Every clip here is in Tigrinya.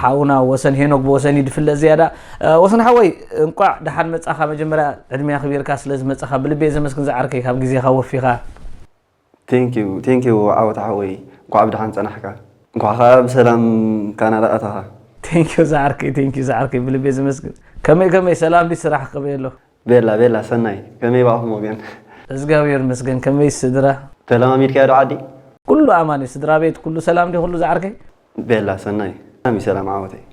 ሓውና ወሰን ሄኖክ ብወሰን እዩ ድፍለጥ ዝያዳ ወሰን ሓወይ እንቋዕ ደሓን መጻኻ መጀመርያ ዕድሜ ኣኽቢርካ ስለ ዝመጻኻ ብልቤ ዘመስግን ዝዓርከይ ካብ ግዜኻ ወፊኻ ቴንኪው ቴንኪው ዓወት ሓወይ እንኳዕ ብደሓን ጸናሕካ። እንኳዕ ከኣ ብሰላም ካናዳ ኣተኻ። ቴንኪው ዝዓርከይ ቴንኪው ዝዓርከይ ብልቤ ዘመስግን ከመይ ከመይ ሰላም ድዩ ስራሕ ከመይ ኣሎ። ቤላ ቤላ ሰናይ ከመይ ባኣኹም ወገን። እዝጋብሄር ይመስገን ከመይ ስድራ። ተለማሚድካዮ ዶ ዓዲ። ኩሉ ኣማን እዩ ስድራቤት ኩሉ ሰላም ድዩ ኩሉ ዝዓርከይ። ቤላ ሰናይ ብጣዕሚ ሰላም ዓወተይ።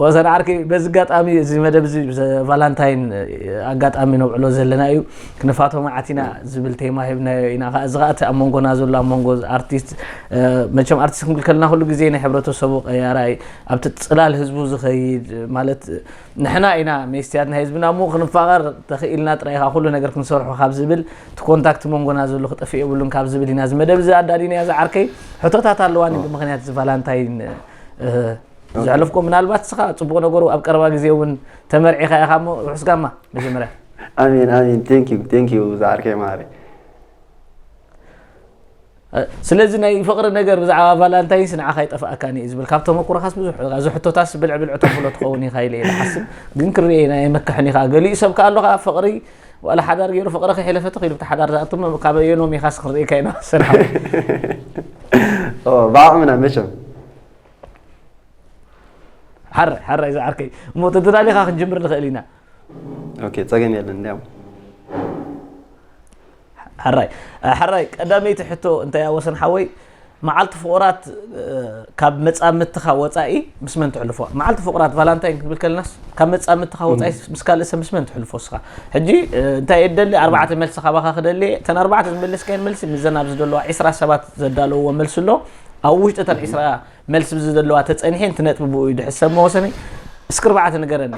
ወሰን ዓርኪ በዚ ኣጋጣሚ እዚ መደብ እዚ ቫላንታይን ኣጋጣሚ ነብዕሎ ዘለና እዩ ክንፋቶ መዓት ኢና ዝብል ቴማ ሂብና ኢና ከዓ እዚ ከዓ እቲ ኣብ መንጎና ዘሎ ኣብ መንጎ ኣርቲስት መቸም ኣርቲስት ክንብል ከለና ኩሉ ግዜ ናይ ሕብረተሰቡ ቀያራይ ኣብቲ ፅላል ህዝቡ ዝኸይድ ማለት ንሕና ኢና ሜስትያት ናይ ህዝብና እሞ ክንፋቐር ተኽኢልና ጥራይ ኢኻ ኩሉ ነገር ክንሰርሖ ካብ ዝብል እቲ ኮንታክት መንጎና ዘሎ ክጠፍእ የብሉን ካብ ዝብል ኢና ዝመደብ እዚ ኣዳሊናያ ዝዓርከይ ሕቶታት ኣለዋኒ ብምክንያት እዚ ቫላንታይን ዘሕለፍኮ ምናልባት ስኻ ፅቡቅ ነገሩ ኣብ ቀረባ ግዜ እውን ተመርዒኻ ኢኻ እሞ ርሑስ ጋማ መጀመርያ ኣሜን ኣሜን ቴንኪዩ ቴንኪዩ ዝዓርከይ መሃሪ ስለዚ ናይ ፍቕሪ ነገር ብዛዕባ ቫላንታይንስ ንዓኻ ይጠፍኣካን እዩ ዝብል ካብ ተመኩሮኻስ ብዙሕ እዚ ሕቶታስ ብልዕ ብልዕ ተብሎ ትኸውን ኢኻ ኢለ ይሓስብ ግን ክርኤ ኢና የመክሕን ኢኻ ገሊኡ ሰብ ከኣ ኣሎ ከኣ ፍቕሪ ዋላ ሓዳር ገይሩ ፍቕሪ ከሒለፈ ተኺሉ ብቲ ሓዳር ዝኣቱ ካብ ኣየኖም ኢኻስ ክንርኤካ ኢና ሰላም ብዓቕምና መቸም ሓራይ ሓራይ ዝዓርከይ እሞ ተደላሊኻ ክንጅምር ንኽእል ኢና ኦኬ ጸገም የለን እንዲያውም ሕራይ ሕራይ ቀዳመይቲ ሕቶ እንታይ እያ ወሰን ሓወይ መዓልቲ ፍቑራት ካብ መፃምትኻ ወፃኢ ምስ መን ትሕልፎ መዓልቲ ፍቑራት ቫላንታይን ክንብል ከለናስ ካብ መፃምትኻ ወፃኢ ምስ ካልእ ሰብ ምስ መን ትሕልፎ እስኻ ሕጂ እንታይ የደሊ ኣርባዕተ መልሲ ካባኻ ክደሊ እተን ኣርባዕተ ዝመለስካየን መልሲ ምዘን ኣብዚ ዘለዋ ዒስራ ሰባት ዘዳለውዎ መልሲ ኣሎ ኣብ ውሽጢ እተን ዒስራ መልስ ብዚ ዘለዋ ተጸኒሐ ንቲ ነጥቢ ብኡ እዩ ድሕሪ ሰብ መወሰኒ እስኪ ኣርባዕተ ንገረኒ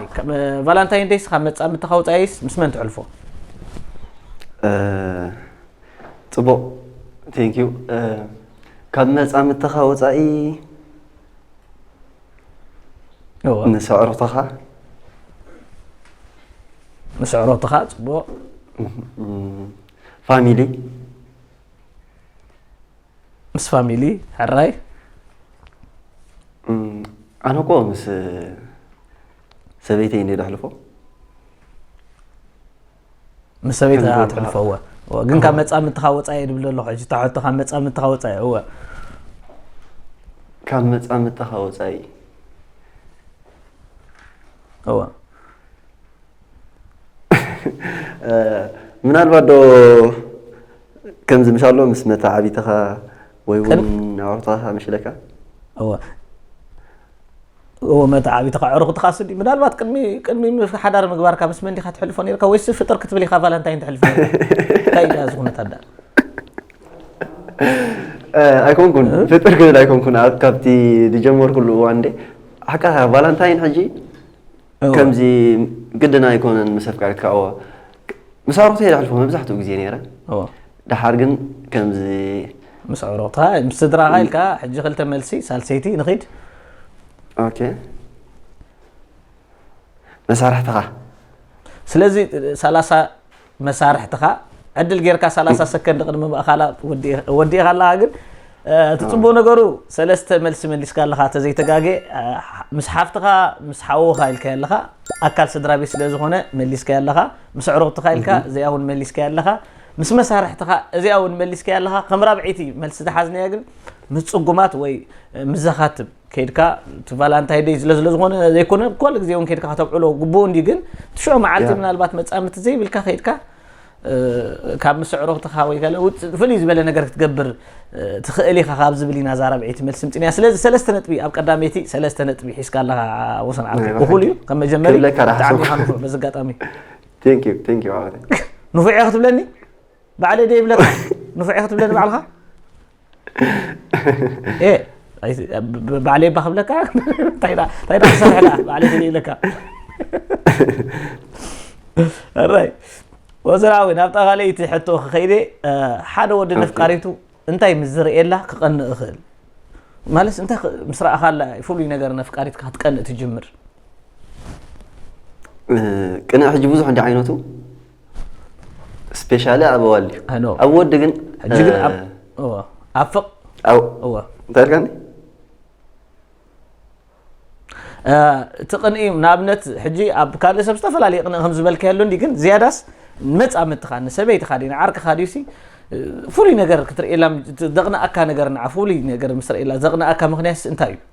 ቫላንታይን ደይስ ካብ መጻምድትኻ ወጻኢስ ምስ መን ትሕልፎ ጽቡቕ ቴንክ ዩ ካብ መጻምድትኻ ወጻኢ ንሰዕሮትኻ ንሰዕሮትኻ ጽቡቕ ፋሚሊ ምስ ፋሚሊ ሕራይ ኣነ እኮ ምስ ሰበይተይ እንደ ደሕልፎ ምስ ሰበይት ኣትሕልፎ እወ እወ። ግን ካብ መፃምድትኻ ወፃኢ ድብል ኣለኹ ሕጂ እታ ሕቶ ካብ መፃምድትኻ ወፃኢ እወ ካብ መፃምድትኻ ወፃኢ እወ ምናልባት ዶ ከምዚ ምስ ኣሎ ምስ መተዓቢትኻ ወይ እውን ኣዕሩኽትኻ መሽለካ እወ እወ መተዓቢትኻ ኣዕሩኽትኻ ስዲ ምናልባት ቅድሚ ቅድሚ ሓዳር ምግባርካ ምስ መን ዲኻ ትሕልፎ ነርካ ወይስ ፍጥር ክትብል ኢኻ ቫለንታይን ትሕልፎ እንታይ ኢያ እዚ ኩነት ኣዳ ኣይኮንኩን ፍጥር ክብል ኣይኮንኩን ካብቲ ዝጀመርኩሉ እዋን ደ ሓቃ ቫለንታይን ሕጂ ከምዚ ግድን ኣይኮነን ምስ ኣፍቃሪትካ እወ ምስ ኣዕሩኽተይ ዘሕልፎ መብዛሕትኡ ግዜ ነይረ ድሓር ግን ከምዚ ምስ ኣዕሩኽታ ምስ ስድራኻ ኢልካ ሕጂ ክልተ መልሲ ሳልሰይቲ ንኺድ ኦኬ መሳርሕትኻ ስለዚ ሰላሳ መሳርሕትኻ ዕድል ጌርካ ሰላሳ ሰከንድ ቅድሚ ምእኻላ ወዲእኻ ኣለኻ ግን እቲ ፅቡቅ ነገሩ ሰለስተ መልሲ መሊስካ ኣለካ ተዘይተጋገ ምስ ሓፍትኻ ምስ ሓውኻ ኢልካ ኣለኻ ኣካል ስድራ ቤት ስለ ዝኾነ መሊስካ ኣለኻ ምስ ዕሩቕትኻ ኢልካ እዚኣ እውን መሊስካ ኣለኻ ምስ መሳርሕትኻ እዚኣ እውን መሊስካ ኣለኻ ከም ራብዒቲ መልሲ ዝሓዝናያ ግን ምስ ፅጉማት ወይ ምስ ዘኻትም ከይድካ እቲ ቫላንታይ ደይ ስለ ስለዝኾነ ዘይኮነ ኩሉ ግዜ እውን ከይድካ ከተብዕሎ ግቡእ እንዲ ግን ትሽዑ መዓልቲ ምናልባት መፃምድቲ ዘይብልካ ከይድካ ካብ ምስዕሮብትኻ ወይ ገለ ውፅእ ፍልይ ዝበለ ነገር ክትገብር ትኽእል ኢኻ ካብ ዝብል ኢና እዛ ራብዒይቲ መልሲ ምፅን እያ ስለዚ ሰለስተ ነጥቢ ኣብ ቀዳመይቲ ሰለስተ ነጥቢ ሒዝካ ኣለኻ ወሰን ዓርኩ እኹል እዩ ከም መጀመሪ ብጣዕሚ ኢኻ ንፉዕ በዚ ኣጋጣሚ ንፉዕ ክትብለኒ ባዕለ ደይብለካ ንፉዕ ክትብለኒ ባዕልኻ ባዕለይ እባ ክብለካ እንታይ ዳ ክሰርሕ ዳ ባዕለይ ደለ ኢለካ እራይ ወዘራዊ ናብታ ካልኣይቲ ሕቶ ክኸይደ ሓደ ወዲ ነፍቃሪቱ እንታይ ምስ ዝርእየላ ክቐንእ እኽእል ማለት እንታይ ምስ ረኣኻላ ፍሉይ ነገር ነፍቃሪትካ ክትቀንእ ትጅምር ቅንዕ ሕጂ ብዙሕ እንዲ ዓይነቱ ስፔሻሊ ኣብ ኣዋልድ እዩ I know. ኣብ ወዲ ግን ሕጂ ግን ኣብ እወ ኣብ ፍቕ ኣብ እወ እንታይ ኢልካኒ እ፣ እቲ ቅንኢ ንኣብነት ሕጂ ኣብ ካልእ ሰብ ዝተፈላለየ ቅንኢ ከም ዝበልካዮ ኣሎ እንዲ ግን ዝያዳስ መፃምድትኻ ንሰበይትኻ ድዩ ንዓርክኻ ድዩ ሲ እ፣ ፍሉይ ነገር ክትርእየላ ደቕንኣካ ነገር ንዓ ፍሉይ ነገር ምስ ረእየላ ዘቕንኣካ ምክንያትስ እንታይ እዩ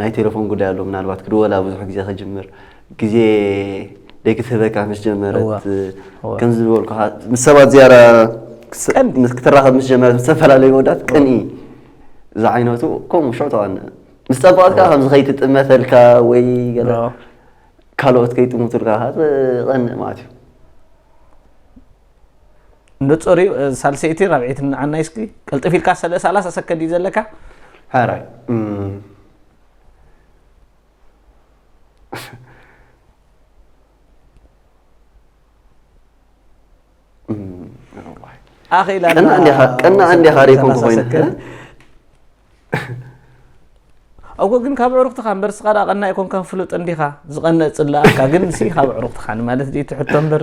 ናይ ቴለፎን ጉዳይ ኣሎ ምናልባት ክድወላ ብዙሕ ግዜ ክጅምር ግዜ ደይክትህበካ ምስ ጀመረት ከምዚ ዝበልኩኻ ምስ ሰባት ዝያዳ ክትራኸብ ምስ ጀመረት ዝተፈላለዩ መወዳት ቅንኢ ዝዓይነቱ ከምኡ ሽዑ ተቐነ ምስ ፀበቐት ከዓ ከምዚ ከይትጥመተልካ ወይ ገለ ካልኦት ከይጥሙቱልካ ትቐንእ ማለት እዩ ንጹር እዩ ሳልሰይቲ ራብዒት ንዓና እስኪ ቅልጥፍ ኢልካ ሰለ ሰላሳ ሰከንድ እዩ ዘለካ ኧረ እም፣ ኣኺላ ቀና እንዲኻ- ቀና እንዲኻ ሪኢኩም ክኾይኑ። እኮ ግን ካብ ዕሩክትኻ እምበር ስኻ ዳ ቀና ኣይኮንካ ፍሉጥ እንዲኻ ዝቐነእ ፅላኣካ ግን ሲ ካብ ዕሩክትኻ ማለት ድዩ ትሕቶ እምበር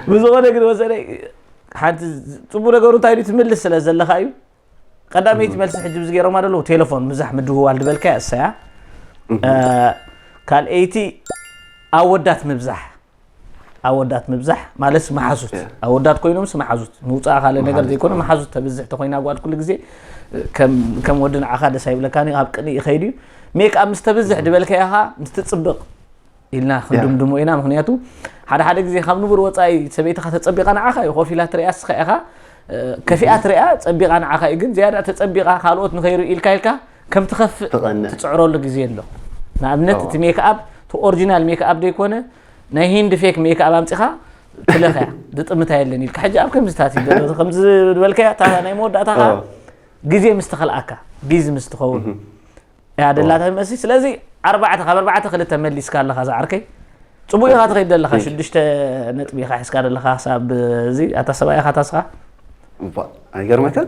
ብዝኾነ ግን ወሰነ ሓንቲ ፅቡቅ ነገሩ እንታይ ድዩ ትምልስ ስለ ዘለካ እዩ ቀዳመይቲ መልሲ ሕጂ ብዚ ገይሮማ ደለዉ ቴሌፎን ምዛሕ ምድውዋል ድበልካ እሰያ ካልኣይቲ ኣወዳት ምብዛሕ ኣወዳት ምብዛሕ ማለት መሓዙት ኣወዳት ኮይኖምስ መሓዙት ምውፃእ ካልእ ነገር ዘይኮነ መሓዙት ተብዝሕ ተኮይና ጓል ኩሉ ግዜ ከም ወዲ ንዓኻ ደስ ኣይብለካን ኣብ ቅንኢ ይኸይድ እዩ ሜክ ምስ ተብዝሕ ድበልከ ኢኻ ምስ ትፅብቕ ኢልና ክንድምድሞ ኢና ምክንያቱ ሓደ ሓደ ግዜ ካብ ንቡር ወፃኢ ሰበይትኻ ተፀቢቓ ንዓኻ እዩ ኮፍ ኢላ ትሪያ ስኻ ኢኻ ከፊኣ ትሪያ ፀቢቓ ንዓኻ እዩ ግን ዝያዳ ተፀቢቓ ካልኦት ንኸይርኡ ኢልካ ኢልካ ከም ትኸፍእ ትቐንእ። ትጽዕረሉ ግዜ ኣሎ ንኣብነት እቲ ሜክኣፕ እቲ ኦሪጂናል ሜክኣፕ ዘይኮነ ናይ ሂንዲ ፌክ ሜክኣፕ ኣምፂኻ ትለኽያ ዝጥምታ የለን ኢልካ ሕጂ ኣብ ከምዚታት እዩ ዘሎ ከምዚ ዝበልካያ እታ ናይ መወዳእታ ከዓ አዎ። ግዜ ምስ ተኸልኣካ ቢዚ ምስ ትኸውን እያ ደላታ ይመስል ስለዚ ኣርባዕተ ካብ ኣርባዕተ ክልተ መሊስካ ኣለኻ ዝዓርከይ ፅቡቅ ኢኻ ትኸይድ ዘለኻ ሽዱሽተ ነጥቢ ኢኻ ሒዝካ ዘለኻ ክሳብ እዚ ኣታ ሰብኣይ ኢኻ ታስኻ እባ፣ ኣይገርመካን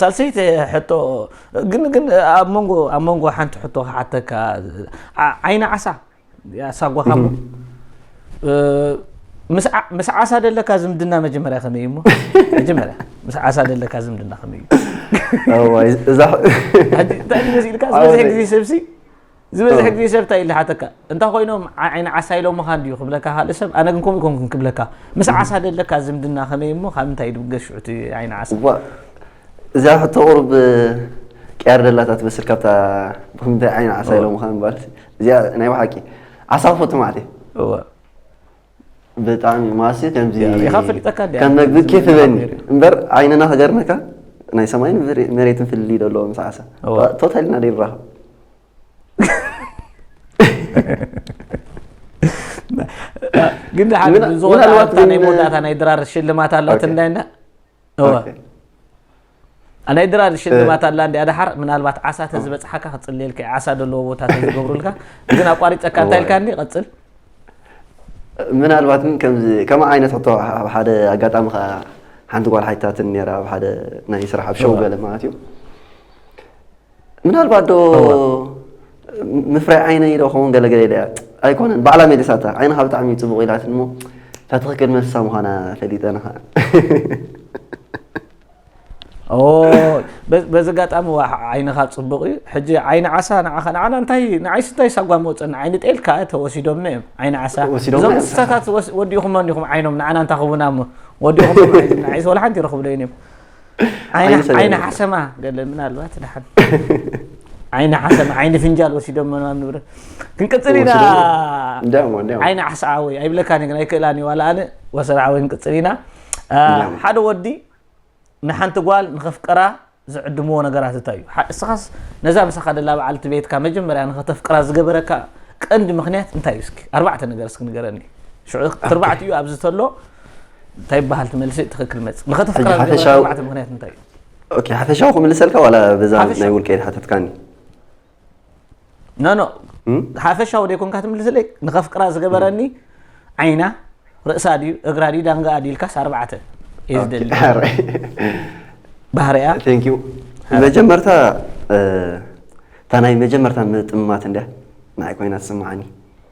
ሳልሰይቲ ሕቶ ግን ግን ኣብ መንጎ ኣብ መንጎ ሓንቲ ሕቶ ክሓተካ ዓይኒ ዓሳ ያሳጓኻሞ ምስ ዓሳ ደለካ ዝምድና መጀመርያ ከመይ እዩ እሞ መጀመርያ ምስ ዓሳ ደለካ ዝምድና ከመይ እዩ ዝበዝሕ ግዜ ሰብሲ ዝበዝሕ ግዜ ሰብ እንታይ ኢለ ሓተካ እንታ ኮይኖም ዓይኒ ዓሳ ኢሎምኻ እንድዩ ክብለካ ካልእ ሰብ ኣነ ግን ከምኡ ኮንኩን ክብለካ ምስ ዓሳ ደለካ ዝምድና ከመይ እሞ ካብ እንታይ ድብገስ ሽዑ እቲ ዓይኒ ዓሳ እዚኣ ሕቶ ቁሩብ ቅያር ደላታ ትመስል ካብታ ብክምንታይ ዓይኒ ዓሳ ኢሎምኻ ምባል እዚኣ ናይ ብሓቂ ዓሳ ክፈቱ ማዕት እየ ብጣዕሚ ማሲ ከምዚ ኢኻ ፈሊጠካ ድያ? ከም መግቢ ኬፍ በኒ እምበር ዓይንና ክገርመካ ናይ ሰማይን መሬትን ፍልልይ ዶ ኣለዎ ምስ ዓሳ እወ። ቶታሊ ኢና ደይንራኸብ ግን ድሓን ምን- ዝኾነ ምናልባት ኣታ ናይ ግን- መወዳእታ ናይ ድራር ሽልማት ኣላት ኦኬ። እንዳይና ናይ ድራር ሽልማት ኣላ እንዲኣ ድሓር ምናልባት ዓሳ ተዝበፅሓካ ክፅልየልካ ዓሳ ዘለዎ ቦታ ተዝገብሩልካ ግን ኣቋሪፀካ እንታይ ኢልካ ኒ ቀፅል ምናልባት ግን ከምዚ ከም ዓይነት ሕቶ ኣብ ሓደ ኣጋጣሚ ከዓ ሓንቲ ጓል ሓይታትን ነራ ኣብ ሓደ ናይ ስራሕ ኣብ ሸው ገለ ማለት እዩ ምናልባት ዶ ምፍረ ዓይነይ ዶ ኸውን ገለገለ ኢለ ኣይኮነን ባዕላ መሊሳታ ዓይንኻ ብጣዕሚ ፅቡቕ ኢላትን እሞ እታ ትኽክል መልሳ ምዃና ፈሊጠ ንኸዓ በዚ ኣጋጣሚ ዓይንኻ ፅቡቕ እዩ ሕጂ ዓይኒ ዓሳ ንዓኻ ንዓና እንታይ ንዓይሲ እንታይ ሳጓ መወፀኒ ዓይኒ ጤልካ ተወሲዶምና እዮም ዓይኒ ዓሳ እዞም እንስሳታት ወዲእኹም ኣኒኹም ዓይኖም ንዓና እንታይ ክቡና እሞ ወዲእኹም ዓይዞም ንዓይሲ ወላ ሓንቲ ይረኽብለይን እዮም ዓይኒ ሰገን ዓይኒ ይበሃል። ሓሰማ ገለ ምናልባት ድሓን ዓይኒ ሓሰማ ዓይኒ ፍንጃል ወሲዶም መናም ንብረ ክንቅፅል ኢና ወሲዶም? እንዲያውም፣ እንዲያውም። ዓይኒ ዓሳ ዓወይ ኣይብለካን እየ ግን ኣይክእላን እዩ ዋላ ኣነ ወሰን ዓወይ ክንቅፅል ኢና አ፣ እንዲያውም። ሓደ ወዲ ንሓንቲ ጓል ንኸፍቅራ ዝዕድምዎ ነገራት እንታይ እዩ ሓ- እስኻስ ነዛ ምሳኻ ደላ በዓልቲ ቤትካ መጀመርያ ንኸተፍቅራ ዝገበረካ ቀንዲ ምክንያት እንታይ እዩ እስኪ ኣርባዕተ ነገር እስኪ ንገረኒ ሽዑ ትርባዕቲ እዩ ኣብዚ ተሎ እንታይ ይበሃል እቲ መልሲ ትኽክል መጽ ንኸተፍቅራ ሕጂ ዝገብረካ ሓፈሻዊ- ኣርባዕተ ምክንያት እንታይ እዩ ኦኬ ሓፈሻዊ ክምልሰልካ ዋላ በዛ ሓፈሻዊ። ናይ ውልቀይ ሓተትካኒ ኖ ኖ እም? ሓፈሻዊ ደይኮንካ ትምልስለይ ንኸፍቅራ ዝገበረኒ ዓይና ርእሳ ድዩ እግራ ድዩ ዳንጋ ድዩ ኢልካስ ኣርባዕተ እየ ዝደሊ ባህርያ ቴንክ ዩ መጀመርታ እ፣ እታ ናይ መጀመርታ ምጥምማት እንድያ ንዓይ ኮይና ትስምዓኒ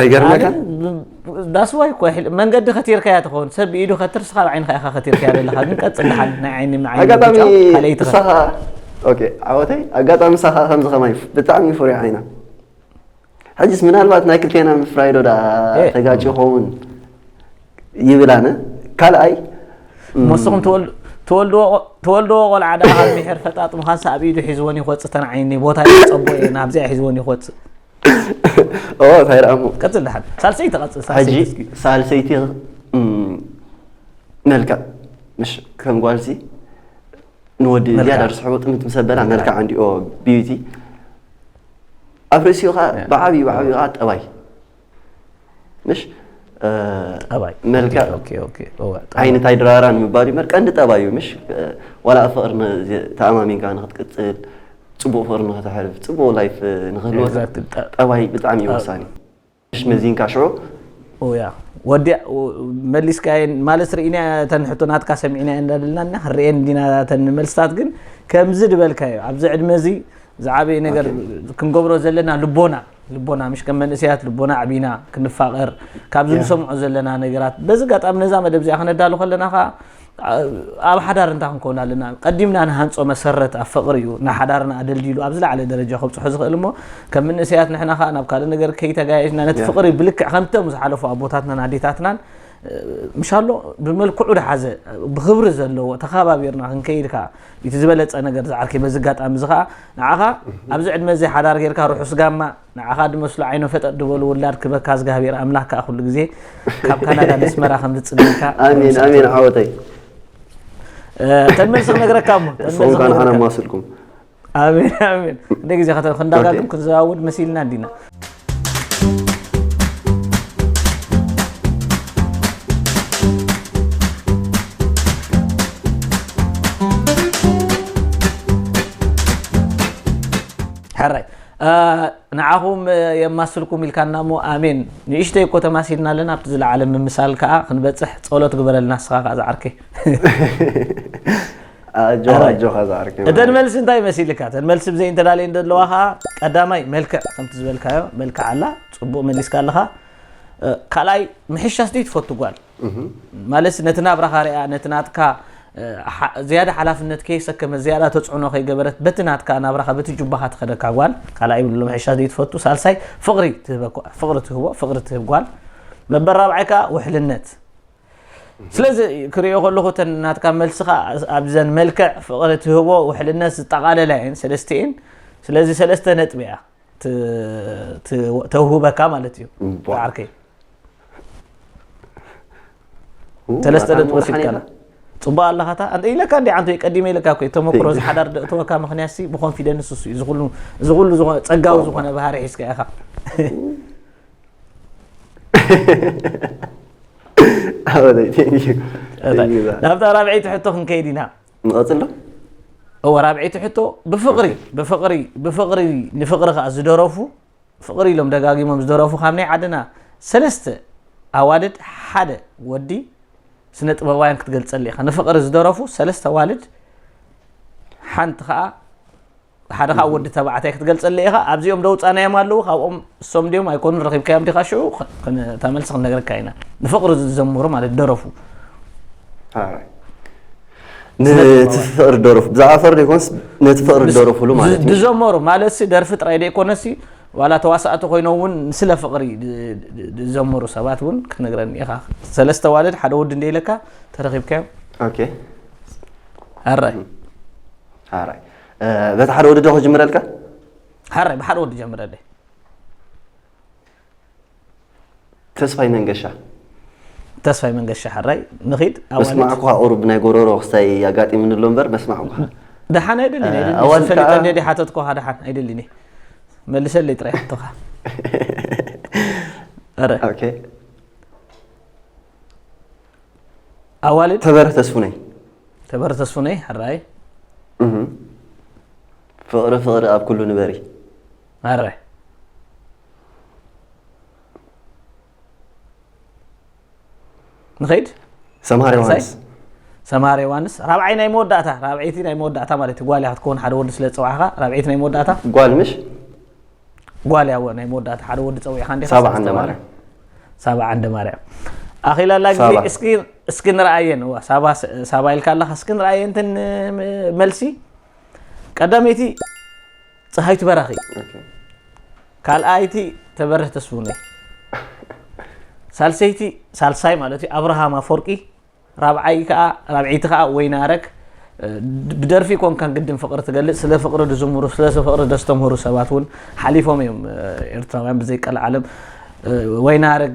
ኣይገርመካን ዳስዋይ እኮ ይሕል መንገዲ ከቲርካያ ትኸውን ሰብ ኢዱ ከትርስካ ኣብ ዓይንካ ኢካ ከቲርካያ ዘለካ ግን ቀፅል ድሓን ናይ ዓይኒ ንዓይኒ ኣጋጣሚ ምጫው ካልኣይ ትኸ- ንሳኻ ኦኬ ዓወተይ ኣጋጣሚ ንሳኻ ከምዚ ከማይ ብጣዕሚ ፍሩይ ዓይና ሕጅስ ምናልባት ናይ ክልቴና ምፍራይ ዶ ደኣ ኤ። ተጋጭ ይኸውን ይብል ኣነ ካልኣይ እሞ ንስኹም ትወል- ትወልድዎ ቆ- ትወልድዎ ቆልዓ ደኣ ኣብ ምሕር ፈጣጥ ምዃንሳ ኣብ ኢዱ ሒዝዎን ይኮፅእ ተን ዓይኒ ቦታ ይፀቦ እየ ናብዚኣ ሒዝዎን ይኮፅእ ኦ ታይ ደኣ እሞ ቀጽል ደሓን ሳልሰይቲ ቀጽል ሕጂ ሳልሰይቲ እስኪ ሳልሰይቲ እም፣ መልክዕ ምሽ ከም ጓልሲ ንወዲ መልክዕ። ዝያዳ ርስሕዎ ጥምት ምስ ኣበላ መልክዕ እንዲኦ ቢዩቲ ኣብ ርእሲኡ ከዓ ብዓብዩ ብዓብዩ ከዓ ጠባይ ምሽ ጠባይ መልክዕ ኦኬ ኦኬ እወ ጠባይ ዓይኒ እንታይ ድራራን ምባል እዩ መር ቀንዲ ጠባይ እዩ ምሽ ዋላ ኣብ ፍቕሪ ን- ዚ- ተኣማሚንካ ንክትቅፅል ፅቡቕ ፍቕሪ ንክተሕልፍ ፅቡቕ ላይፍ ንክህልወካ Exactly. ጠ- ጠባይ ብጣዕሚ እዩ ወሳኒ ምሽ መዚንካ ሽዑ ኦያ ወዲያ ወ- መሊስካየን ማለት ርኢና ተን ሕቶ ናትካ ሰሚዕና እንዳደልና እና ክንርኤን ዲና ተን መልስታት ግን ከምዚ ድበልካዮ ኣብዚ ዕድመ እዚ ዝዓበየ ነገር ክንገብሮ ዘለና ልቦና ልቦና ምሽ ከም መንእሰያት ልቦና ኣዕቢና ክንፋቐር ካብዚ ንሰምዖ ዘለና ነገራት በዚ ኣጋጣሚ ነዛ መደብ እዚኣ ክነዳሉ ከለና ከዓ ኣብ ሓዳር እንታይ ክንከውን ኣለና ቀዲምና ንሃንፆ መሰረት ኣብ ፍቕሪ እዩ ንሓዳርና ኣደልዲሉ ኣብ ዝለዓለ ደረጃ ከብፅሖ ዝኽእል እሞ ከም መንእሰያት ንሕና ከዓ ናብ ካልእ ነገር ከይተጋየሽና ነቲ ፍቕሪ ብልክዕ ከምቶም ዝሓለፉ ኣቦታትናን ኣዴታትናን ምሻሎ ብመልክዑ ድሓዘ ብክብሪ ዘለዎ ተኸባቢርና ክንከይድ ከዓ እቲ ዝበለፀ ነገር ዝዓርከይ በዚ ኣጋጣሚ እዚ ከዓ ንዓኻ ኣብዚ ዕድመ እዚ ሓዳር ጌርካ ርሑስ ጋማ ንዓኻ ድመስሉ ዓይኖ ፈጠጥ ድበሉ ውላድ ክበካ ዝጋህቢር ኣምላክ ከዓ ኩሉ ግዜ ካብ ካናዳ ነስመራ ከም ዝፅግካ ኣሜን ኣሜን ዓወተይ ተመልሲ ክነግረካ እሞ ተመልሲ ሱኹም ካን ክነግረካ። ሓና ማስልኩም ኣሜን ኣሜን እንደ ግዜ ከተ ክንዳጋግም ክንዘዋውድ መሲልና እንዲና ሕራይ ንዓኹም የማስልኩም ኢልካና እሞ ኣሜን ንእሽተይ እኮ ተማሲልና ኣለና ኣብቲ ዝለዓለ ምምሳል ከዓ ክንበፅሕ ፀሎት ግበረልና ንስኻ ከዓ ዝዓርከይ ኣጆኻ ኣረ። ኣጆኻ ዝዓርከይ እተን መዓረይ። መልሲ እንታይ መሲልካ እተን መልሲ ብዘይ እንተዳለየ እንደለዋ ከዓ ቀዳማይ መልክዕ ከምቲ ዝበልካዮ መልክዕ ኣላ ፅቡቅ መሊስካ ኣለኻ እ፣ ካልኣይ ምሕሻስ ድዩ ትፈቱ ጓል ማለት ነቲ ናብራኻ ሪኣ ነቲ ናትካ እ፣ ሓ- ዝያዳ ሓላፍነት ከይሰከመ ዝያዳ ተፅዕኖ ከይገበረት በቲ ናትካ ናብራኻ በቲ ጁባኻ ትኸደካ ጓል ካልኣይ ብሎ ምሕሻስ ድዩ ትፈቱ ሳልሳይ ፍቕሪ ትህበ ፍቕሪ ትህቦ ፍቕሪ ትህብ ጓል መበል ራብዓይ ከዓ ውሕልነት ስለዚ ክሪኦ ከለኹ እተን ናትካ መልስኻ ኣብዘን መልክዕ ፍቕሪ ትህቦ ውሕልነት ዝጠቓለላ እየን ሰለስቲኤን ስለዚ ሰለስተ ነጥቢ እያ ተውህበካ ማለት እዩ ዓርከይ ሰለስተ ነጥቢ ወሲድካላ ፅቡቅ ኣለካ ታ ኢለካ እንዲ ዓንቶ ቀዲመ ኢለካ ኮ ተመክሮ ዝሓዳር ደእተወካ ምክንያት ሲ ብኮንፊደንስ እሱ እዩ እዚ ኩሉ ዝኮነ ፀጋዊ ዝኮነ ባህሪ ሒዝካ ኢኻ ኣበለይ ቴንኪ ቴንኪ ዛ ናብታ ራብዐይቲ ሕቶ ክንከይድ ኢና ንቐፅል ዶ እወ ራብዐይቲ ሕቶ ብፍቕሪ ብፍቕሪ ብፍቕሪ ንፍቕሪ ከዓ ዝደረፉ ፍቕሪ ኢሎም ደጋጊሞም ዝደረፉ ካብ ናይ ዓድና ሰለስተ ኣዋልድ ሓደ ወዲ ስነ ጥበባውያን ክትገልፀሉ ኢኻ ንፍቕሪ ዝደረፉ ሰለስተ ኣዋልድ ሓንቲ ከዓ ሓደ ካብ ወዲ ተባዕታይ ክትገልጸለይ ኢኻ ኣብዚኦም ዶ ውጻናዮም ኣለዉ ካብኦም እሶም ድዮም ኣይኮኑን ረኺብካዮም ዲኻ ሽዑ እታ መልሲ ክንነግረካ ኢና ንፍቕሪ ዝዘምሩ ማለት ደረፉ ነቲ ፍቕሪ ደረፉ ብዛዕባ ፍቕሪ ዘይኮነስ ነቲ ፍቕሪ ደረፉሉ ማለት እዩ ዝዘመሩ ማለት ሲ ደርፊ ጥራይ ዘይኮነሲ ዋላ ተዋሳእቲ ኮይኖም እውን ስለ ፍቕሪ ዝዘመሩ ሰባት እውን ክትነግረኒ ኢኻ ሰለስተ ዋልድ ሓደ ወዲ እንደ ኢለካ ተረኺብካዮም ኦኬ ሃራይ ሃራይ በቲ ሓደ ወዲ ዶ ክጅምረልካ ሓራይ ብሓደ ወዲ ጀምረለይ ተስፋይ መንገሻ ተስፋይ መንገሻ ሓራይ ንኺድ መስማዕኳ ቁሩብ ናይ ጎረሮ ክስታይ ኣጋጢሙኒ ኣሎ እምበር መስማዕኳ ደሓን ኣይደልን ፈሊጠኒ ዲ ሓተትኳ ደሓን ኣይደልን መልሰለይ ጥራይ ሕቶኻ ኣዋልድ ተበረ ተስፉነይ ተበረ ተስፉነይ ሕራይ ፍቕሪ ፍቕሪ ኣብ ኩሉ ንበሪ ኣረ ንኸይድ ሰምሃር ዮሃንስ ሰምሃር ዮሃንስ ራብዓይ ናይ መወዳእታ ራብዐይቲ ናይ መወዳእታ ማለት እዩ ጓል ክትከውን ሓደ ወዲ ስለ ዝፀዋዕኻ ራብዐይቲ ናይ መወዳእታ ጓል ምሽ ጓል እያ እወ ናይ መወዳእታ ሓደ ወዲ ፀዊዕካ እንዲኻ ሳባ ዓንደ ስለዝተባህለ። ማርያም ሳባ ዓንደ ማርያም ኣኺላ ኣላ ግዜ ሳባ። እስኪ እስኪ ንርኣየን እዋ ሳባ ሳባ ኢልካ ኣለኻ እስኪ ንርኣየን ተን ም- መልሲ ቀዳመይቲ ፀሃይቱ በራኺ ኦኬ። ካልኣይቲ ተበርህ ተስፉነይ ሳልሰይቲ ሳልሳይ ማለት እዩ ኣብርሃም ኣፈወርቂ ራብዓይ ከኣ ራብዒይቲ ከኣ ወይናረግ ብደርፊ ኮንካ ግድን ፍቅሪ ትገልጽ ስለ ፍቅሪ ድዝምሩ ስለ ፍቅሪ ደስተምህሩ ሰባት እውን ሓሊፎም እዮም ኤርትራውያን ብዘይ ቀልዓለም ወይናረግ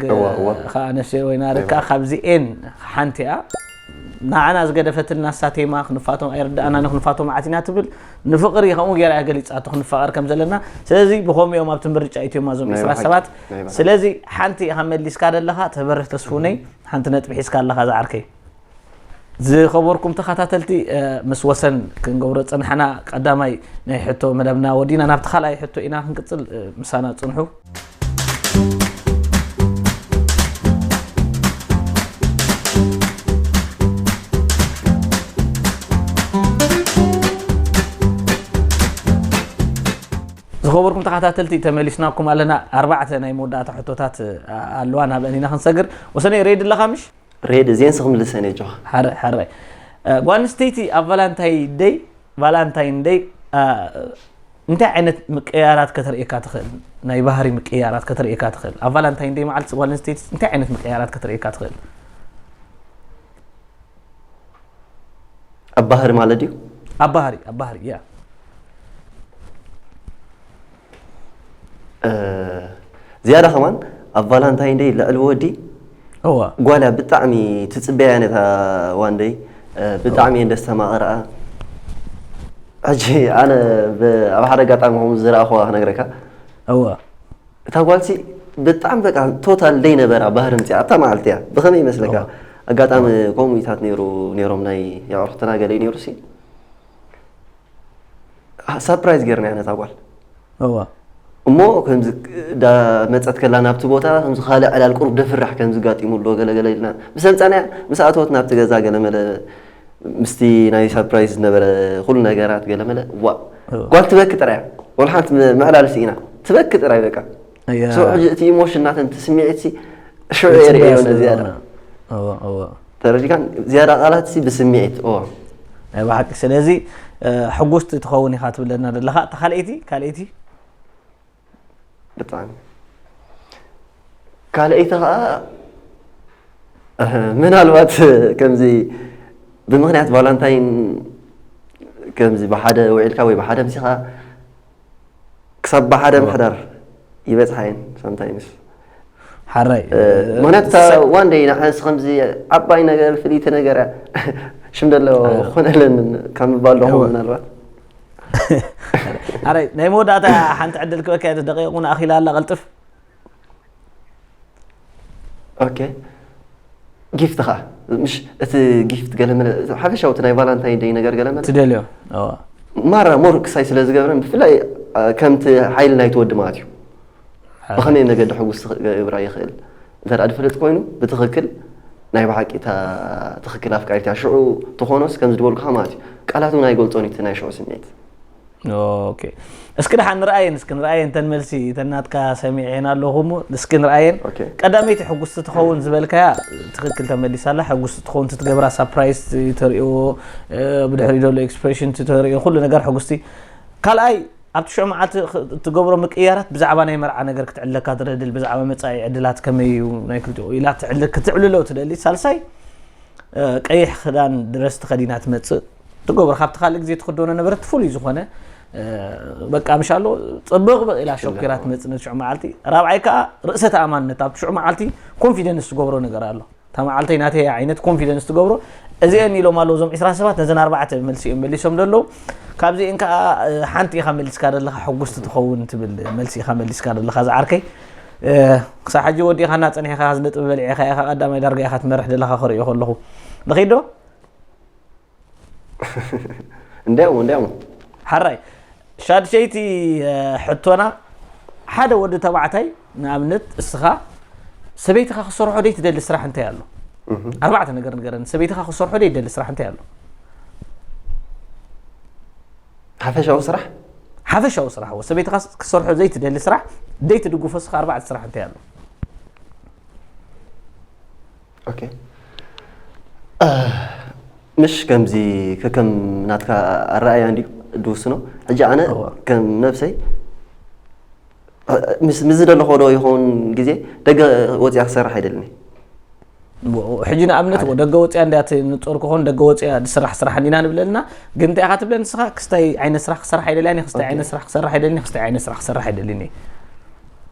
ከዓ ነፍሲ ወይናረግ ከዓ ካብዚኤን ሓንቲ እያ ንዓና ዝገደፈትልና ሳቴማ ክንፋቶም ኣይርዳእና ንክንፋቶም ዓቲና ትብል ንፍቅሪ ከምኡ ገይራ እያ ገሊፃቶ ክንፋቀር ከም ዘለና ስለዚ ብከምኡ እዮም ኣብቲ ምርጫ ኢትዮማ ዞም ዕስራ ሰባት ስለዚ ሓንቲ ኢኻ መሊስካ ዘለኻ ተበርህ ተስፉነይ ሓንቲ ነጥቢ ሒዝካ ኣለኻ ዝዓርከይ። ዝኸበርኩም ተኸታተልቲ ምስ ወሰን ክንገብሮ ዝፀናሕና ቀዳማይ ናይ ሕቶ መደብና ወዲና ናብቲ ካልኣይ ሕቶ ኢና ክንቅፅል ምሳና ፅንሑ። ዝኸበርኩም ተኻታተልቲ ተመሊስናኩም ኣለና ኣርባዕተ ናይ መወዳእታ ሕቶታት ኣለዋ ናብአን ኢና ክንሰግር ወሰነይ ሬድ ኣለኻ ምሽ ሬድ እዚን ስክምልሰን እየ ጆኻ ሓረ ሓረ ጓል ኣንስተይቲ ኣብ ቫላንታይ ደይ ቫላንታይን ደይ እንታይ ዓይነት ምቅያራት ከተርእየካ ትኽእል ናይ ባህሪ ምቅያራት ከተርእየካ ትኽእል ኣብ ቫላንታይን ደይ መዓልቲ ጓል ኣንስተይቲ እንታይ ዓይነት ምቅያራት ከተርእየካ ትኽእል ኣብ ባህሪ ማለት ድዩ ኣብ ባህሪ ኣብ ባህሪ ያ ዝያዳ ከማን ኣብ ቫላንታይን ደይ ልዕሊ ወዲ እዋ ጓላ ብጣዕሚ ትፅበያ ነታ ዋንደይ ብጣዕሚ እየን ደስ ተማቕርኣ ሕጂ ኣነ ብ- ኣብ ሓደ ኣጋጣሚ ከምኡ ዝረኣኹዋ ክነግረካ እዋ እታ ጓልሲ ብጣዕሚ በቃ ቶታል ዘይነበራ ባህሪ ምፅኣ ኣብታ መዓልቲ እያ ብኸመይ ይመስለካ ኣጋጣሚ ኮሙኒታት ነይሩ ነይሮም ናይ የዕርኽትና ገለ ነይሩ ሲ ሳፕራይዝ ገይርና ነታ ጓል እሞ ከምዚ መፀት ከላ ናብቲ ቦታ ከምዚ ካልእ ዕላል ቁሩብ ደፍራሕ ከምዚ ጋጢሙ ኣሎ ገለገለ ኢልና ምስ ኣምፃናያ ምስ ኣተወት ናብቲ ገዛ ገለመለ ምስቲ ናይ ሳርፕራይዝ ዝነበረ ኩሉ ነገራት ገለመለ ዋእ ጓል ትበኪ ጥራይ እያ ወላ ሓንቲ ምዕላል ስኢና ትበኪ ጥራይ በቃ እያ። ሰው ሕጂ እቲ ኢሞሽን ናተን እቲ ስምዒት ሲ ሽዑ ጽቡቅ የርእዮ ስለ ነዚኣ ዝኾነ። እወ እወ ተረዲካን ዝያዳ ቃላት ሲ ብስምዒት ኦ ናይ ብሓቂ ስለዚ እ፣ ሕጉስቲ ትኸውን ኢኻ ትብለና ዘለኻ እታ ካልኣይቲ ካልኣይቲ ብጣዕሚ ካልኣይቲ ከዓ ምናልባት ከምዚ ብምክንያት ቫላንታይን ከምዚ ብሓደ ውዒልካ ወይ ብሓደ ምሲኻ ክሳብ ብሓደ ምሕዳር ይበፅሓ እየን ሳምታይምስ ሓራይ ምክንያቱ እታ ዋን ደይ ንሓንስ ከምዚ ዓባይ ነገር ፍልይቲ ነገር ሽም ደሎ ኮነለን ካብ ምባል ዶ ምናልባት ኣረ ናይ መወዳእታ ሓንቲ ዕድል ክበካ እየ ደቂቕ እውን ኣኺላ ኣላ ቀልጥፍ ኦኬ ጊፍት ከዓ ምሽ እቲ ጊፍት ገለመለ ሓፈሻዊ እቲ ናይ ቫላንታይን ደይ ነገር ገለመለ ትደልዮ ማራ ሞር ክሳይ ስለ ዝገብረን ብፍላይ ከምቲ ሓይሊ ናይቲ ወዲ ማለት እዩ ብኸመይ መገዲ ሕጉስ ክገብራ ይኽእል እንተ ድፈልጥ ኮይኑ ብትኽክል ናይ ብሓቂ እታ ትኽክል ኣፍቃሪት እያ ሽዑ ትኾኖስ ከምዚ ዝበልኩኻ ማለት እዩ ቃላት እውን ኣይገልፆን እዩ እቲ ናይ ሽዑ ስምዒት ኦኬ እስኪ ደሓን ንርኣየን እስኪ ንርኣየን ተን መልሲ ተናትካ ሰሚዐን ኣለኹ እሞ እስኪ ንርኣየን ኦኬ። ቀዳመይቲ ሕጉስቲ ትኸውን ዝበልካያ ትኽክል ተመሊሳ ኣላ ሕጉስቲ ትኸውን ትትገብራ ሳፕራይዝ ተርእዮ እ፣ ብድሕሪ ዘሎ ኤክስፕሬሽን ተርእዮ ኩሉ ነገር ሕጉስቲ ካልኣይ ኣብቲ ሽዑ መዓልቲ እትገብሮ ምቅይያራት ብዛዕባ ናይ መርዓ ነገር ክትዕለካ ትደድል ብዛዕባ መጻኢ ዕድላት ከመይ እዩ ናይ ክልቲኡ ኢላ ትዕል ክትዕልሎ ትደሊ ሳልሳይ ቀይሕ ክዳን ድረስ ተኸዲና ትመጽእ ትገብሮ ካብቲ ካልእ ግዜ ትክደኖ ነበረት ፍሉይ ዝኾነ በቃ ምሻሎ ፅብቅ ብቅ ኢላ ሸኪራ ትመፅእ ነቲ ሽዑ መዓልቲ ራብዓይ ከዓ ርእሰ ተኣማንነት ኣብቲ ሽዑ መዓልቲ ኮንፊደንስ ዝገብሮ ነገር ኣሎ እታ መዓልተይ ናተይ እያ ዓይነት ኮንፊደንስ ትገብሮ እዚኤን ኢሎም ኣለዉ እዞም ዕስራ ሰባት ነዘን ኣርባዕተ መልሲ እዮም መሊሶም ዘለዉ ካብዚኤን ከዓ ሓንቲ ኢኻ መሊስካ ዘለኻ ሕጉስቲ ትኸውን ትብል መልሲ ኢኻ መሊስካ ዘለኻ ዝዓርከይ ክሳብ ሕጂ ወዲእኻና ፀኒሕኻ ነጥቢ በሊዕኻ ኢኻ ቀዳማይ ዳርጋ ኢኻ ትመርሕ ዘለኻ ክርእዮ ከለኹ ንኺዶ እንድያው እንድያው ሓራይ ሻድሸይቲ ሕቶና ሓደ ወዲ ተባዕታይ ንኣብነት እስኻ ሰበይትኻ ክሰርሖ ደይ ትደሊ ስራሕ እንታይ ኣሎ ኣርባዕተ ነገር ንገረኒ ሰበይትኻ ክሰርሖ ደይ ትደሊ ስራሕ እንታይ ኣሎ ሓፈሻዊ ስራሕ ሓፈሻዊ ስራሕ ሰበይትኻ ክሰርሖ ዘይትደሊ ስራሕ ደይ ትድግፎ እስኻ ኣርባዕተ ስራሕ እንታይ ኣሎ ምሽ ከምዚ ከከም ናትካ ኣረኣያ እንድዩ ድውስኖ ሕጂ ኣነ ከም ነብሰይ ምስ ዝደለኾ ዶ ይኸውን ግዜ ደገ ወፅያ ክሰርሕ ኣይደልኒ ሕጂ ንኣብነት ደገ ወፅያ እንድያ እቲ ንፆር ክኾን ደገ ወፅያ ዝስራሕ ስራሕ እንዲና ንብለልና ግን እንታይ ኢኻ ትብለ ንስኻ ክስታይ ዓይነት ስራሕ ክሰርሕ ኣይደልያን ክስታይ ዓይነት ስራሕ ክሰርሕ ኣይደልኒ ክስታይ ዓይነት ስራሕ ክሰርሕ ኣይደልኒ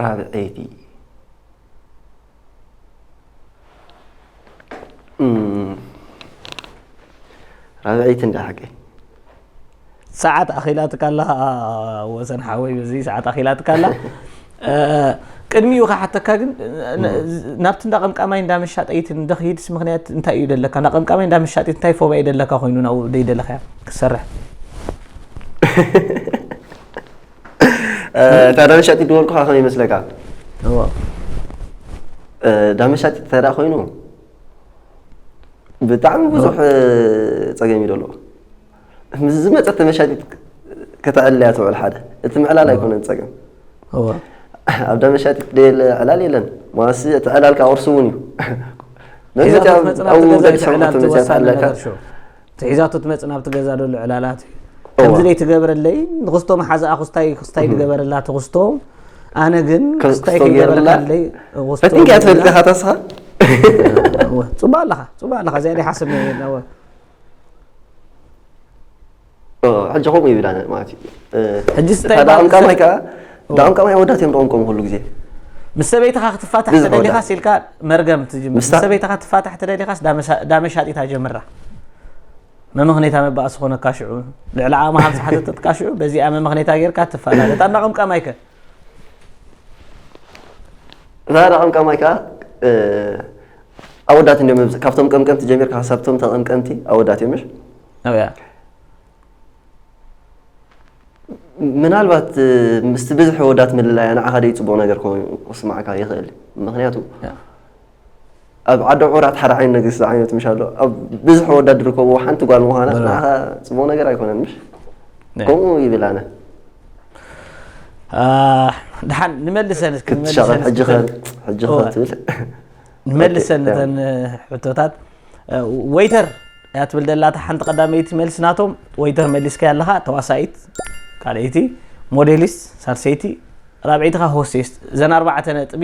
ራብዐይቲ ራብዐይቲ እንዳ ሓቂ ሰዓት ኣኺላትካ ኣላ ወሰን ሓወይ በዚ ሰዓት ኣኺላትካ ኣላ ቅድሚኡ ክሓተካ ግን ናብቲ እንዳ ቀምቃማይ እንዳ መሻጠይት እንደክይድስ ምክንያት እንታይ እዩ ደለካ እንዳ ቀምቃማይ እንዳ መሻጠይት እንታይ ፎባ እዩ ደለካ ኮይኑ ናብኡ ደይደለካ ክሰርሕ እታ እንዳ መሻጢት ድበልኩካ ከመይ ይመስለካ እንዳ መሻጢት ተዳ ኮይኑ ብጣዕሚ ብዙሕ ፀገም እዩ ደለዎ ምስ ዝመፀት ተመሻጢት ከተዕልያ ትውዕል ሓደ እቲ ምዕላል ኣይኮነን ፀገም ኣብ ዳ መሻጢት ደየለ ዕላል የለን ማሲ እቲ ዕላል ከዓ ቁርሲ እውን እዩ ትሒዛቶ ትመፅእ ናብቲ ገዛ ደሉ ዕላላት እዩ ከምዚ ደይ ትገብረለይ ንክስቶ መሓዛኣ ክስታይ ክስታይ ትገበረላ ትክስቶ ኣነ ግን ክስታይ ክገበረለይ ፈቲንካ ትፈልጥ ኢኻ ተስኻ ፅቡቅ ኣለኻ ፅቡቅ ኣለኻ እዚኣ ሓስብ ሕጂ ከምኡ ይብል ኣነ ማለት እዩ ሕጂስ እንታይ ሓደ ይበሃል? ዓም ቀማይ ከዓ ዳዕም ቀማይ ኣወዳት እዮም ደቆም ከምኡ ኩሉ ግዜ ምስ ሰበይትኻ ክትፋታሕ ብዝሕ ተደሊኻስ ኢልካ መርገም ትጅምር ምስ ምስታ- ሰበይትኻ ትፋታሕ ተደሊኻስ ዳመሳ- ዳመሻጢታ ጀምራ መመኽኔታ መባእሲ ኮነካ ሽዑ ልዕሊ ዓቕምኻ ምስ ሓተተትካ ሽዑ በዚኣ መመኽኔታ ጌርካ ትፋታ እታ እንዳቐምቀማይከ ዛራ ቀምቃም ማይ ከዓ ኣወዳት እንዲም መብዝ ካብቶም ቀምቀምቲ ጀሚርካ ክሳብቶም ተቐምቀምቲ ኣወዳት እዮም እያ ምናልባት ምስቲ ብዝሒ ወዳት ምልላያ ንዓኻ ደይ ፅቡቕ ነገር ኮይኑ ክስማዕካ ይኽእል ምክንያቱ ኣብ ዓዲ ዑራት ሓደ ዓይነት ነገር ዝዓይነቱ ምሽ ኣሎ ኣብ ብዝሕ ወዳድ ዝርከቡ ሓንቲ ጓል ምዃና ንዓኻ ፅቡቕ ነገር ኣይኮነን ምሽ ከምኡ ይብል ኣነ ድሓን ንመልሰን ክትሻቐል ሕጂ ሕጂ ትብል ንመልሰን ነተን ሕቶታት ወይተር እያ ትብል ደላታ ሓንቲ ቀዳመይቲ መልሲ ናቶም ወይተር መሊስካ ኣለኻ ተዋሳኢት ካልኣይቲ ሞዴሊስት ሳልሰይቲ ራብዒትኻ ሆስቴስት እዘን ኣርባዕተ ነጥቢ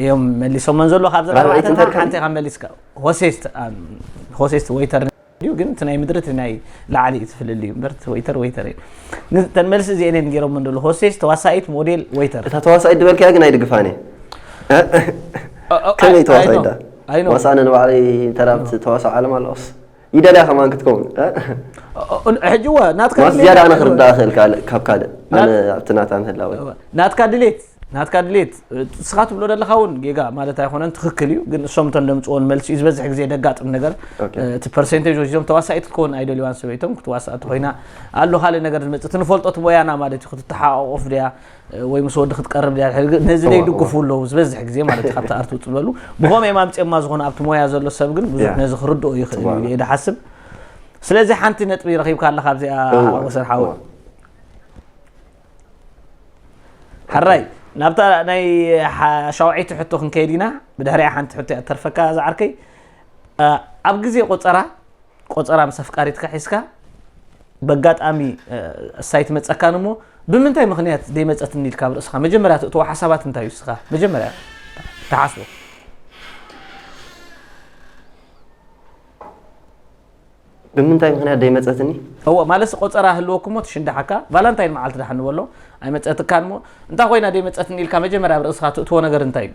እዮም መሊሶመን ዘሎ ካብዚ ኣርባዕተ እንተ ሓንቲ ኢኻ መሊስካ ሆሴስት ሆሴስት ወይተር እዩ ግን እቲ ናይ ምድሪ እቲ ናይ ላዕሊ እዩ ትፍልል እዩ እምበር ወይተር ወይተር እዩ ንተን መልሲ እዚአን እየን ገይሮም እንደሉ ሆሴስ ተዋሳኢት ሞዴል ወይተር እታ ተዋሳኢት ዝበልካያ ግን ኣይድግፋን እየ ከመይ ተዋሳኢት ዳ ዋሳእነ ንባዕለይ ተራብቲ ተዋሳኦ ዓለም ኣለኹስ ይደልያ ከማን ክትከውን ሕጂ እወ ናትካ ማስ ዝያዳ ኣነ ክርዳእ እኽእል ካልእ ካብ ካልእ ኣነ ኣብቲ ናታ ምህላወ ናትካ ድሌት ናትካ ድሌት እስኻ ትብሎ ዘለኻ እውን ጌጋ ማለት ኣይኮነን ትክክል እዩ ግን እሶም እቶም ደምፅዎን መልሲ እዩ ዝበዝሕ ግዜ ደጋጥም ነገር ኦኬ። እቲ ፐርሰንቴጅ ወሲዶም ተዋሳኢት ክትከውን ኣይደልዋን ሰበይቶም ክትዋሳእ ተኮይና ኣሎ ካልእ ነገር ዝመፅእ እቲ ንፈልጦ እቲ ሞያና ማለት እዩ ክትተሓቋቆፍ ድያ ወይ ምስ ወዲ ክትቀርብ ድያ ድሕሪ ግን ነዚ ደይ ድግፉ ኣለዉ ዝበዝሕ ግዜ ማለት ካብቲ ኣርቲ ውፅ ዝበሉ ብኸመይ እዮም ኣምፅኦማ ዝኾነ ኣብቲ ሞያ ዘሎ ሰብ ግን ብዙሕ ነዚ ክርድኦ ይኽእል እዩ እየ ድሓስብ ስለዚ ሓንቲ ነጥቢ ረኺብካ ኣለካ ኣብዚኣ ወሰን ሓወ ሓራይ ናብታ ናይ ሻውዒቲ ሕቶ ክንከይድ ኢና ብድሕሪያ ሓንቲ ሕቶ እያ ተርፈካ ዝዓርከይ ኣብ ግዜ ቆፀራ ቆጸራ ምስ ኣፍቃሪትካ ሒዝካ በጋጣሚ እሳይ ትመጸካን እሞ ብምንታይ ምክንያት ዘይመጸትኒ ኢልካ ኣብ ርእስኻ መጀመርያ ትእትዎ ሓሳባት እንታይ እዩ እስኻ መጀመርያ ትሓስቦ ብምንታይ ምክንያት ዘይመጸትኒ እዎ ማለት ቆጸራ ህልወኩ እሞ ትሽንዳሓካ ቫላንታይን መዓልቲ ዳሓን ንበሎ ኣይመጸትካን እሞ እንታይ ኮይና ዘይመጸትኒ ኢልካ መጀመርያ ኣብ ርእስኻ ትእትዎ ነገር እንታይ እዩ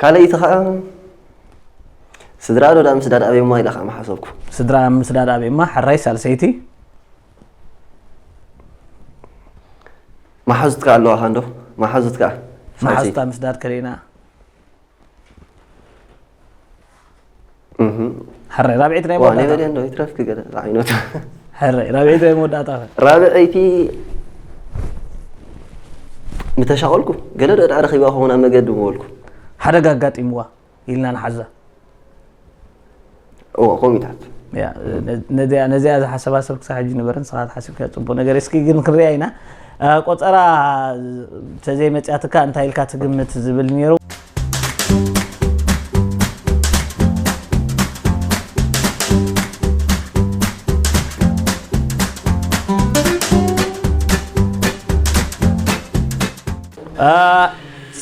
ካልኣይቲ ከኣ ስድራኣዶ ዳኣ ምስዳድ ኣበዩማ ኢለ ከኣ ምሓሰብኩ። ስድራ ምስዳድ ኣበዩማ ሕራይ ሳልሰይቲ። መሓዙትካ ኣለዋካ እንዶ መሓዙትካ መሓዙታ ምስዳድ ከሊእና። ሕረ ራብዒት ናይ መወዳእታ ነበደ እንዶ ይትረፍኪ ገለ ዝዓይነቱ ሕረ ራብዒት ናይ መወዳእታ ራብዐይቲ ምተሻቐልኩ ገለ ዶ ድኣ ረኺባ ክኸውን ኣብ መገዲ ምበልኩ ሓደጋ ኣጋጢምዋ ኢልና ንሓዛ እዎ ኮሚታት ነዚኣ ዝሓሰባ ሰብ ክሳብ ሕጂ ነበረ ንስኻ ትሓስብካ ፅቡቅ ነገር እስኪ ግን ክንሪኣ ኢና ቆፀራ ተዘይመፅያትካ እንታይ ኢልካ ትግምት ዝብል ነይሩ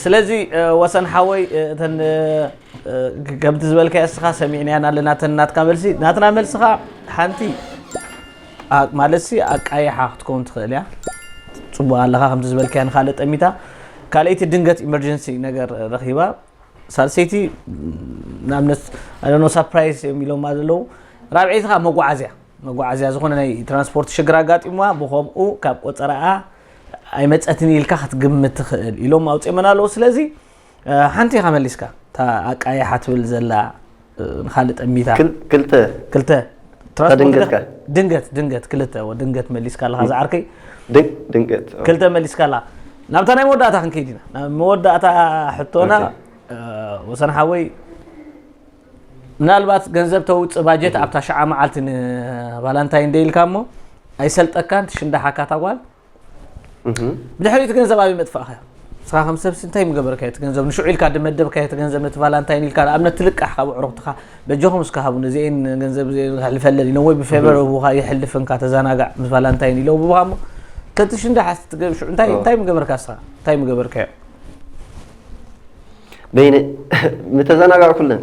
ስለዚ ወሰን ሓወይ እተን ከምቲ ዝበልካዮ እስኻ ሰሚዕናያን ኣለና እተን ናትካ መልሲ ናትና መልሲ ከዓ ሓንቲ ማለትሲ ኣቃይሓ ክትከውን ትኽእል እያ ጽቡቅ ኣለኻ ከምቲ ዝበልካያ ንካልእ ጠሚታ ካልኣይቲ ድንገት ኢመርጀንሲ ነገር ረኺባ ሳልሰይቲ ንኣብነት ኣነ ሳፕራይዝ እዮም ኢሎማ ዘለዉ ራብዐይቲ ከዓ መጓዓዝያ መጓዓዝያ ዝኾነ ናይ ትራንስፖርት ሽግር ኣጋጢምዋ ብከምኡ ካብ ቆፀራኣ ኣይመፀትን ኢልካ ክትግምት ትኽእል ኢሎም ኣውፅኦመን ኣለዉ ስለዚ ሓንቲ ኢኻ መሊስካ እታ ኣቃይሓ ትብል ዘላ ንካልእ ጠሚታ ክልተ ክልተ ድንገት ድንገት ድንገት ክልተ ድንገት መሊስካ ኣለኻ ዝዓርከይ ድንገት ክልተ መሊስካ ኣለኻ ናብታ ናይ መወዳእታ ክንከይድ ኢና ናብ መወዳእታ ሕቶና ወሰን ሓወይ ምናልባት ገንዘብ ተውፅእ ባጀት ኣብታ ሸዓ መዓልቲ ንቫላንታይን ደይልካ እሞ ኣይሰልጠካን ትሽንዳሓካ ታጓል ብድሕሪ እቲ ገንዘብ ኣበይ መጥፋእካዮ ንስኻ ከም ሰብሲ እንታይ ምገበርካዮ እቲ ገንዘብ ንሽዑ ኢልካ ድመደብካዮ እቲ ገንዘብ ነቲ ቫላንታይን ኢልካ ንኣብነት ትልቃሕ ካብ ኣዕሩኽትኻ በጃኹም እስከ ሃቡኒ እዚአን ገንዘብ ሕልፈለኒ ኢሎም ወይ ብፌቨር ህቡኻ የሕልፍንካ ተዘናጋዕ ምስ ቫላንታይን ኢሎም ህቡኻ እሞ ተቲ ሽንዳ ሓስ ትገብ ሽዑ እንታይ እንታይ ምገበርካ ንስኻ እንታይ ምገበርካዮ በይነ ምተዘናጋዕኩለን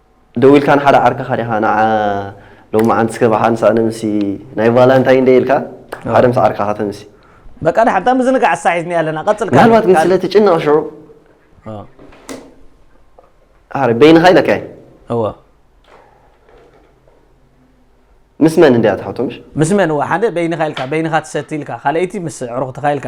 ደው ኢልካ ንሓደ ዓርከኻ ዲኻ ንዓ ሎማዓንቲ እስከ ብሓን ስዕነ ምስ ናይ ቫላንታይን ደይ ኢልካ ሓደ ምስ ዓርካኻ ተምሲ በቃ ድሓን እታ ምዝንጋዕ እሳ ሒዝኒ ኣለና ቀጽል ምናልባት ግን ስለ ትጭነቕ ሽዑ ኣረ በይንኻ ኢለካ እየ እወ ምስ መን እንድያ ትሓቶ ምሽ ምስ መን እወ ሓደ በይንኻ ኢልካ በይንኻ ትሰቲ ኢልካ ካልኣይቲ ምስ ዕሩኽትኻ ኢልካ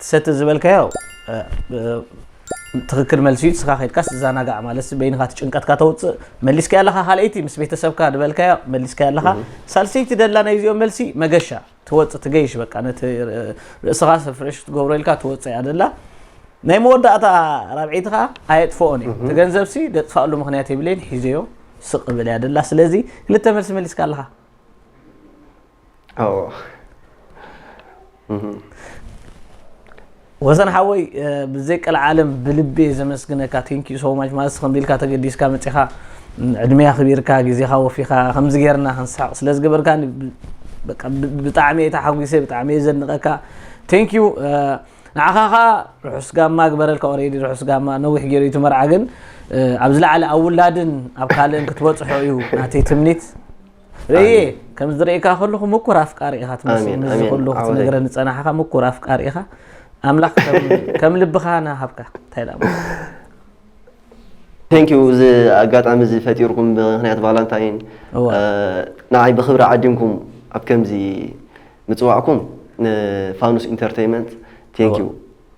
ትሰቲ ዝበልካዮ ትክክል መልሲ እዩ ንስካ ከድካ ትዘናጋዕ ማለት በይንካ እቲ ጭንቀትካ ተውፅእ መሊስካ ኣለካ ካልኣይቲ ምስ ቤተሰብካ ዝበልካዮ መሊስካ ኣለካ ሳልሰይቲ ደላ ናይ ዚኦም መልሲ መገሻ ትወፅ ትገይሽ በቃ ነቲ ርእስኻ ፍሬሽ ትገብሮ ኢልካ ትወፅ እያ ደላ ናይ መወዳእታ ራብዒቲ ከዓ ኣየጥፍኦን እዩ እቲ ገንዘብ ሲ ደጥፋኣሉ ምክንያት የብለይን ሒዘዮ ስቅ ብል እያ ደላ ስለዚ ክልተ መልሲ መሊስካ ኣለካ ወሰን ሓወይ ብዘይ ቀልዓለም ብልቢ እየ ዘመስግነካ ቴንክ ዩ ሶ ማች ማለት ከምዚ ኢልካ ተገዲስካ መፂኻ ዕድመ ኣኽቢርካ ግዜኻ ወፊኻ ከምዚ ጌርና ክንስሕቕ ስለ ዝገበርካኒ በቃ ብ- ብጣዕሚ እየ ተሓጒሰ ብጣዕሚ እየ ዘድንቐካ ቴንክ ዩ ንዓኻ ኸዓ ርሑስ ጋማ ግበረልካ ኦሬዲ ርሑስ ጋማ ነዊሕ ገይሩ እዩ እቲ መርዓ ግን ኣብ ዝለዓለ ኣብ ውላድን ኣብ ካልእን ክትበፅሖ እዩ ናተይ ትምኒት ረየ ከም ዝርእካ ከለኹ ምኩር ኣፍቃሪ ኢኻ ትመስል ምዚ ኩሉ ክትነግረኒ ፀናሕኻ ምኩር ኣፍቃሪ ኢኻ ኣምላኽ ከም ልብኻ ናሃብካ እንታይ ዳ ቴንኪዩ እዚ ኣጋጣሚ እዚ ፈጢርኩም ብምክንያት ቫላንታይን ንዓይ ብክብሪ ዓዲምኩም ኣብ ከምዚ ምፅዋዕኩም ንፋኑስ ኢንተርተይመንት ቴንኪዩ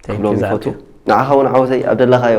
ክብሎም ይፈቱ ንዓኻ እውን ዓወተይ ኣብ ደለኻዮ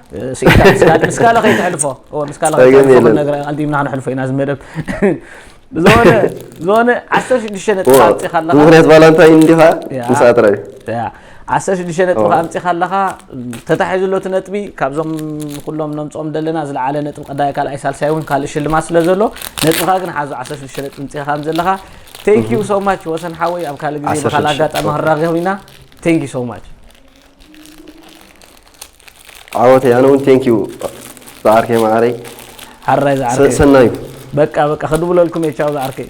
ስኢንካ ምስ ካለ ከይትሕልፎ ምስ ካለ ከይትሕልፎ ነገር ኣንዲምና ክንሕልፎ ኢና እዚ መደብ ዝኾነ ዝኾነ ዓሰርተ ሽዱሽተ ነጥቢ ኣምፂኻ ኣለኻ ምክንያት ባላ እንታይ እንዲኻ ምስኣ ጥራይ ዓሰርተ ሽዱሽተ ነጥቢ ከ ኣምፂኻ ኣለኻ ተታሒዙ ኣሎ እቲ ነጥቢ ካብዞም ኩሎም ነምፅኦም ዘለና ዝለዓለ ነጥቢ ቀዳይ ካልኣይ ሳልሳይ እውን ካልእ ሽልማት ስለ ዘሎ ነጥብኻ ግን ሓዞ ዓሰርተ ሽዱሽተ ነጥቢ ምፅኻ ከም ዘለኻ ቴንኪዩ ሶማች ወሰን ሓወይ ኣብ ካልእ ግዜ ብካልእ ኣጋጣሚ ክንራኸብ ኢና ቴንኪዩ ሶማች ዓወተይ ኣነ እውን ቴንክ ዩ ዝዓርከይ መዓረይ ሓራይ ዝዓርከይ ሰናዩ በቃ በቃ ክድውለልኩም እየ ቻው ዝዓርከይ